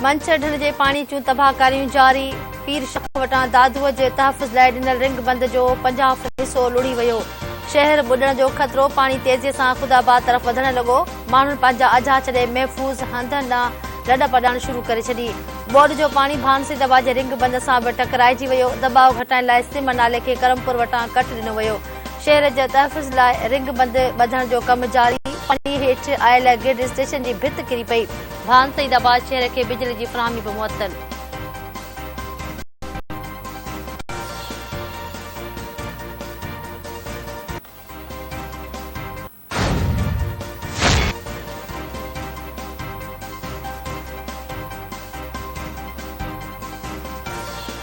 منڇر ڍنڍ جي پاڻي جون تباهڪاريون جاري، پير شاهه وٽان دادوء جي تحفظ لاء ڏنل رنگ بند جو پنجاهه فٽ حصو لڙهي ويو، شهر ٻڏڻ جو خطرو، پاڻي تيزي سان خودآباد طرف وڌڻ لڳو، ماڻهن پنهنجا اجها ڇڏي محفوظ هنڌن ڏانهن لڏپ ڏيڻ شروع ڪري ڇڏي. ٻوڏ جو پاڻي ڀانسي دٻا جي رنگ بند سان به ٽڪرائجي ويو، دٻاء گهٽائڻ لاء سم نالي کي ڪرمپور وٽان ڪٽ ڏنو ويو، شهر جي تحفظ لاء رنگ بند ٻڌڻ جو ڪم جاري، پاڻي هيٺ آيل گرڊ اسٽيشن جي ڀت ڪري پئي، ڀانسي دٻا شهر کي بجلي جي فراهمي به معطل.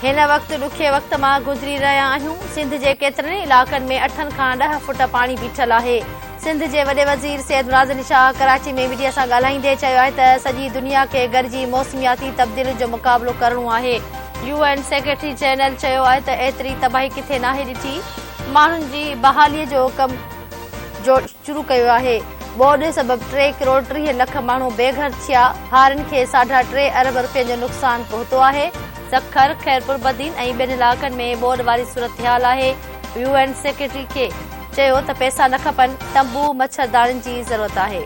هن وقت ڏکي وقت مان گذري رهيا آهيون، سنڌ جي ڪيترن ئي علائقن ۾ اٺن کان ڏهه فٽ پاڻي بيٺل آهي، سنڌ جي وڏي وزير سيد مراد علي شاهه ڪراچي ۾ ميڊيا سان ڳالهائيندي چيو آهي ته سڄي دنيا کي گڏجي موسمياتي تبديلين جو مقابلو ڪرڻو آهي، يو اين سيڪريٽري جنرل چيو آهي ته ايتري تباهي ڪٿي ناهي ڏٺي، ماڻهن جي بحالي جو ڪم. جو شروع ڪيو آهي ٻوڏ سبب ٽي ڪروڙ ٽيهه لک ماڻهو بي گهر ٿيا هارين کي ساڍا ٽي ارب رپين جو نقصان پهتو آهي. سکر، خيرپوربدين ۽ ٻين علائقن ۾ ٻوڏ واري صورتحال آهي يو اين سيڪريٽري کي چيو ته پئسا نه کپن تنبو مڇرداڻين جي ضرورت آهي.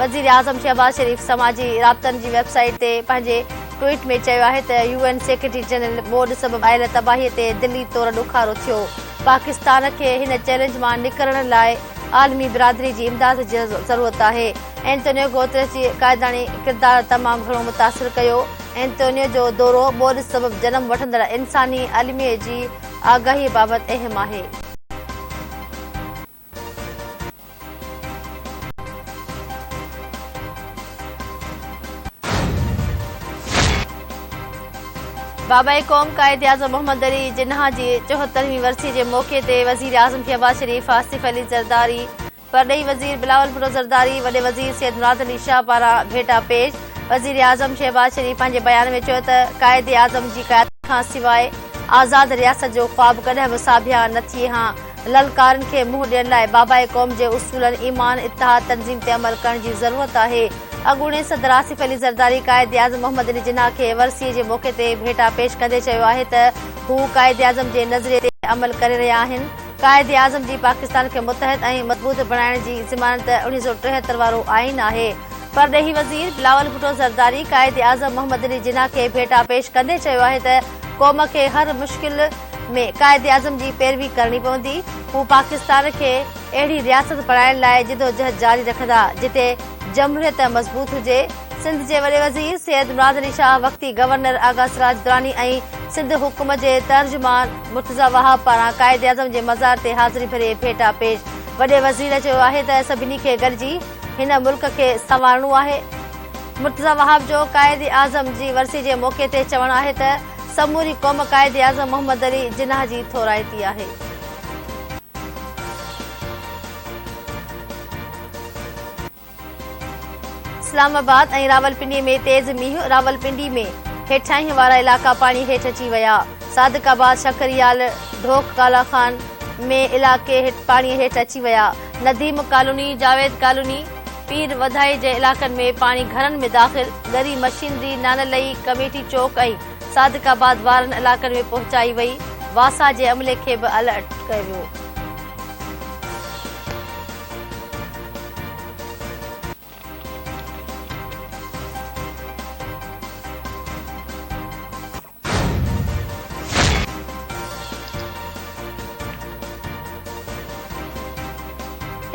وزيراعظم شهباز شريف سماجي رابطن جي ويب سائيٽ تي پنهنجي ٽوئيٽ ۾ چيو آهي ته يو اين سيڪريٽري جنرل ٻوڏ سبب آيل تباهي تي دلي طور ڏکارو ٿيو، پاڪستان کي هن چئلينج مان نڪرڻ لاء عالمي برادري جي امداد جي ضرورت آهي، اينٽونيو گوتريس جي قائداڻي ڪردار تمام گهڻو متاثر ڪيو، اينٽونيو جو دورو ٻوڏ سبب جنم وٺندڙ انساني الميي جي آگاهي بابت اهم آهي. بابائي قوم قائداعظم محمد علي جناح جي چوهترهين ورسي جي موقعي تي وزيراعظم شهباز شريف، آصف علي زرداري، پرڏيهي وزير بلاول ڀٽو زرداري، وڏي وزير سيد مراد علي شاهه پاران ڀيٽا پيش. وزيراعظم شهباز شريف پنهنجي بيان ۾ چيو ته قائداعظم جي قيادت کانسواء آزاد رياست جو خواب ڪڏهن به ساڀيان نه ٿئي ها، للڪارن کي منهن ڏيڻ لاء بابائي قوم جي اصولن ايمان، اتحاد، تنظيم تي عمل ڪرڻ جي ضرورت آهي. اڳوڻي صدر آصف علي زرداري قائداعظم محمد علي جناح کي ورسيء جي موقعي تي ڀيٽا پيش ڪندي چيو آهي ته هو قائداعظم جي نظريي تي عمل ڪري رهيا آهن. قائداعظم جي پاڪستان کي متحد ۽ مضبوط بڻائڻ جي ضمانت اڻيهه سؤ ٽيهتر وارو آئين آهي. پرڏيهي وزير بلاول ڀٽو زرداري قائداعظم محمد علي جناح کي ڀيٽا پيش ڪندي چيو آهي ته قوم کي هر مشڪل، ۾ قائد اعظم جي پيروي ڪرڻي پوندي، هو پاڪستان کي اهڙي رياست بڻائڻ لاء جدوجهد جاري رکندا، جتي جمهوريت مضبوط هجي. سنڌ جي وڏي وزير سيد مراد علي شاهه، وقتي گورنر آغا سراج دراني ۽ سنڌ حڪومت جي ترجمان مرتضيٰ وهاب پاران قائد اعظم جي مزار تي حاضري ڀري ڀيٽا پيش. وڏي وزير چيو آهي ته سڀني کي گڏجي هن ملڪ کي سنوارڻو آهي. مرتضيٰ وهاب جو قائد اعظم جي ورسي جي موقعي تي چوڻ آهي ته، سموري قوم قائد اعظم محمد علي جناح جي ٿورائتي آهي. اسلام آباد ۽ راولپنڊي ۾ تيز مينهن، راولپنڊي ۾ هيٺاهين وارا علائقا پاڻي هيٺ اچي ويا، صادق آباد، شڪريال، ڍوڪ ڪالا خان ۾ علائقي پاڻي هيٺ اچي ويا، نديم ڪالوني، جاويد ڪالوني. پير وڌائي جي علائقن ۾ پاڻي گهرن ۾ داخل، ڳري مشينري نانلئي ڪميٽي چوڪ ۽ صادق آباد وارن علائقن ۾ پهچائي وئي، واسا جي عملي کي به الرٽ ڪيو ويو.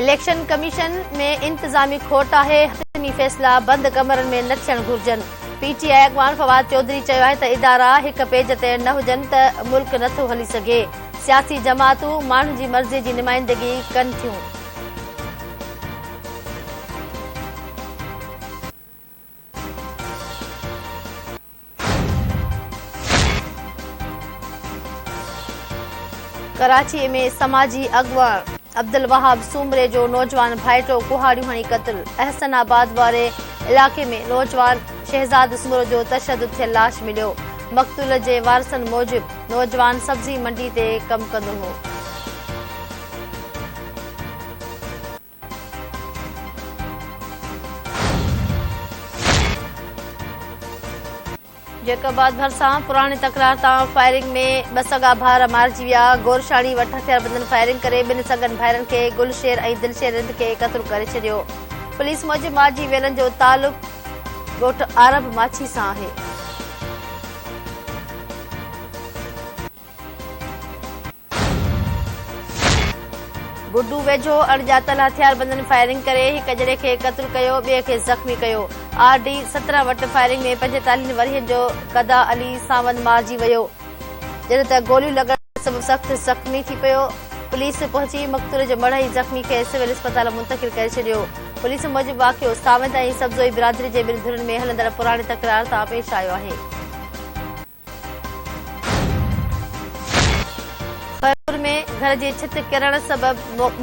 اليڪشن ڪميشن ۾ انتظامي کوٽ آهي، حتمي فيصلا بند ڪمرن ۾ نه ٿيڻ گهرجن، پي ٽي آء اڳواڻ فواد چوڌري چيو آهي ته ادارا هڪ پيج تي نه هجن ته ملڪ نه ٿو هلي سگهي، سياسي جماعتون ماڻهن جي مرضي جي نمائندگي ڪن ٿيون. ڪراچي ۾ سماجي اڳواڻ عبدالوهاب سومري جو نوجوان ڀائيٽو ڪهاڙيون هڻي قتل، احسن آباد واري علائقي ۾ نوجوان شهزاد سومرو جو تشدد ٿيل لاش مليو، مقتول جي وارثن موجب نوجوان سبزي منڊي تي ڪم ڪندو هو. جيڪب آباد ڀرسان پراڻي تڪرار تان فائرنگ ۾ ٻه سڳا ڀائر مارجي ويا، گورشاڻي وٽ هٿياربندن فائرنگ ڪري ٻن سڳن ڀائرن کي گل شير ۽ دلشير رند کي قتل ڪري ڇڏيو، پوليس موجب مارجي ويلن جو تعلق ڳوٺ عارب ماڇي سان آهي. گڊو ويجهو اڻڄاتل هٿياربندن فائرنگ ڪري هڪ ڄڻي کي قتل ڪيو، ٻئي کي زخمي ڪيو، آر ڊي سترهن وٽ فائرنگ ۾ پنجيتاليهن ورهين جو گدا علي ساوند مارجي ويو، جڏهن ته گوليون لڳڻ سبب سخت زخمي ٿي پيو، پوليس پهچي مقتول جو مڙهه ۽ زخمي کي سول اسپتال منتقل ڪري ڇڏيو، پوليس موجب واقعو ساوند ۽ سبزوئي برادري جي ٻن ڌرين ۾ هلندڙ پراڻي تڪرار تان پيش آيو آهي. خيرپور ۾ گهر جي ڇت ڪرڻ سبب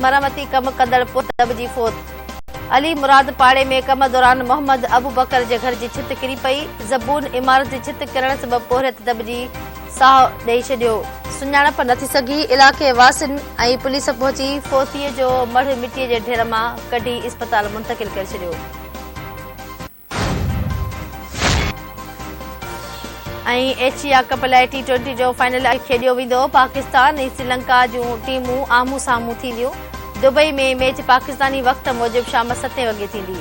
مرمتي ڪم ڪندڙ پٽ دٻجي فوت، علي مراد پاڙي ۾ ڪم دوران محمد ابوبڪر جي گهر جي ڇت ڪري پئي، زبون عمارت جي ڇت ڪرڻ سبب پورهيت دٻجي ساهه ڏئي ڇڏيو. سڃاڻپ نه ٿي سگهي، علائقي واسين ۽ پوليس پهچي فوتي جو مڙهه مٽي جي ڍير مان ڪڍي اسپتال منتقل ڪري ڇڏيو. ايشيا ڪپ لاء ٽي ٽوئنٽي جو فائنل اڄ کيڏيو ويندو، پاڪستان ۽ سريلنڪا جون ٽيمون آمهون سامهون ٿينديون، دبئي ۾ ميچ پاڪستاني وقت موجب شام ستين وڳي ٿيندي.